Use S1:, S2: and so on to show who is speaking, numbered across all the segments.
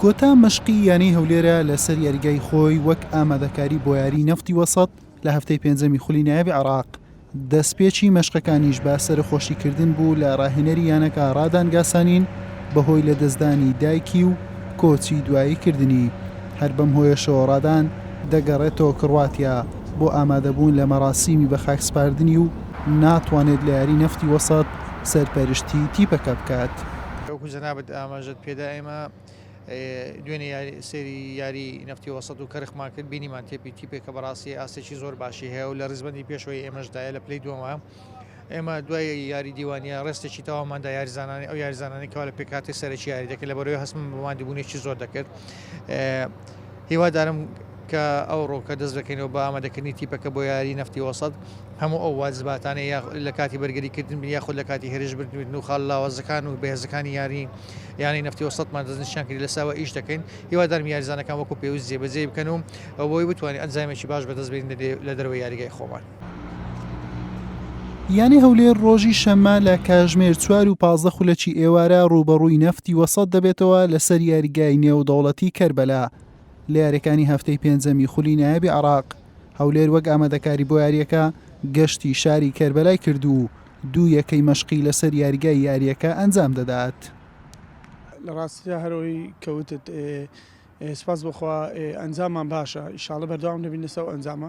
S1: کۆتا مەشقی یانەی هەولێرە لەسەر یاریگای خۆی وەک ئامادەکاری بۆ یاری نەفتی وەسەت لە هەفتەی پێنجەمی خولی نایابی عراق دەستپێکی مەشقەکانیش با سەرخۆشیکردن بوو لە ڕاهێنەری یانەکە ڕادان گاسانین بەهۆی لە دەستدانی دایکی و کۆچی دوایی کردنی هەر بەم هۆیەشەوە ڕادان دەگەڕێتەوە کڕواتیا بۆ ئامادەبوون لە مەراسیمی بە خاکسپاردنی و ناتوانێت لە یاری نەفتی وەسەت سەرپەرشتی تیپەکە بکات. وەکو جەنابت
S2: ئاماژەت پێدا ئێمە دوێنێ سەیری یاری نەفتی وەسەت و کەرخمان کرد بینیمان تێپی تیپێکە بەڕاستی ئاستێکی زۆر باشی هەیە و لە ڕیزبەندی پێشەوەی ئێمەشدایە لە پلەی دووەمە ئێمە دوای یاری دیوانیە ڕێستێکی تەواماندا یاریزانانی ئەو یاریزانانی کەوا لە پێکاتی سەرەکی یاریدەکە لە بەرەوەی هەستم بۆ مادیبوونێکی زۆر دەکرد هیوادارم کە ئەوڕۆ کە دەست دەکەینەوە بە ئامادەکردنی تیپەکە بۆ یاریی نەفتی وەسەت، هەموو ئەو واجباتانەی یا لە کاتی بەرگریکردن بن یاخود لە کاتی هێرش بن و خاڵە لاوازەکان و بەهێزەکانی یاریی یانەی نەفتی وەسەتمان دەستنیشان کرد، لەسەر ئەوە ئیش دەکەین. هیوادارم یاریزانەکان وەکو پێویست جێبەجێی بکەن و بۆ ئەوەی بتوانین ئەنجامێکی باش بەدەست بێنین لە دەرەوەی یاریگای خۆمان.
S1: یانەی هەولێر ڕۆژی شەممە لە کاژمێر چوار و پازدە خولەکی ئێوارە ڕووبەڕووی نەفتی وەسەد دەبێتەوە لەسەر یاریگای نێودەوڵەتی کەربەلا لە یاریەکانی هەفتەی پێنجەمی خولی نایابی عراق هەولێر وەک ئامادەکاری بۆ یاریەکە گەشتی شاری کەربەلای کرد و دوو یەکەی مەشقی لەسەر یاریگای یاریەکە ئەنجام دەدات.
S3: لە ڕاستیدا هەرەوەی کەوتت سپاس بخوا ئەنجاممان باشە ئیشاڵە بەردەوام دەبین لەسەو ئەنجامە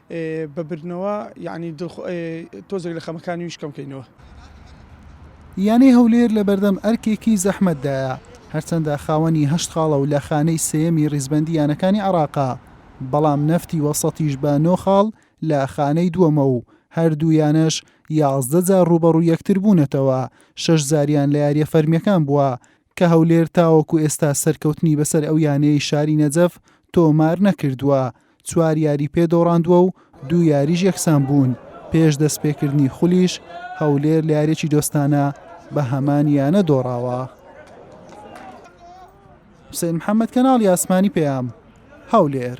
S3: بە بردنەوە یانی دڵخ تۆزێک لە خەمەکانی ویش کەم کەینەوە.
S1: یانەی هەولێر لە بەردەم ئەرکێکی زەحمەتدایە، هەرچەندە خاوەنی هەشت خاڵە و لە خانەی سێیەمی ریزبەندی یانەکانی عێراقە، بەڵام نەفتی وەسەتیش بە نۆ خاڵ لە خانەی دووەمە و هەردوو یانەش یازدە جار رووبەڕووی یەکتر بوونەتەوە، شەش جاریان لە یارییە فەرمییەکان بووە، کە هەولێر تاوەکو ئێستا سەرکەوتنی بەسەر ئەو یانەی شاری نەجەف تۆمار نەکردووە، چوار یاری پێ دۆڕاندووە و دوو یاریش یەکسان بوون، پێش دەستپێکردنی خولیش هەولێر لە یاریێکی دۆستانە بە هەمان یانە دۆڕاوە. حسێن محەممەد کەناڵی ئاسمانی پەیام هەولێر.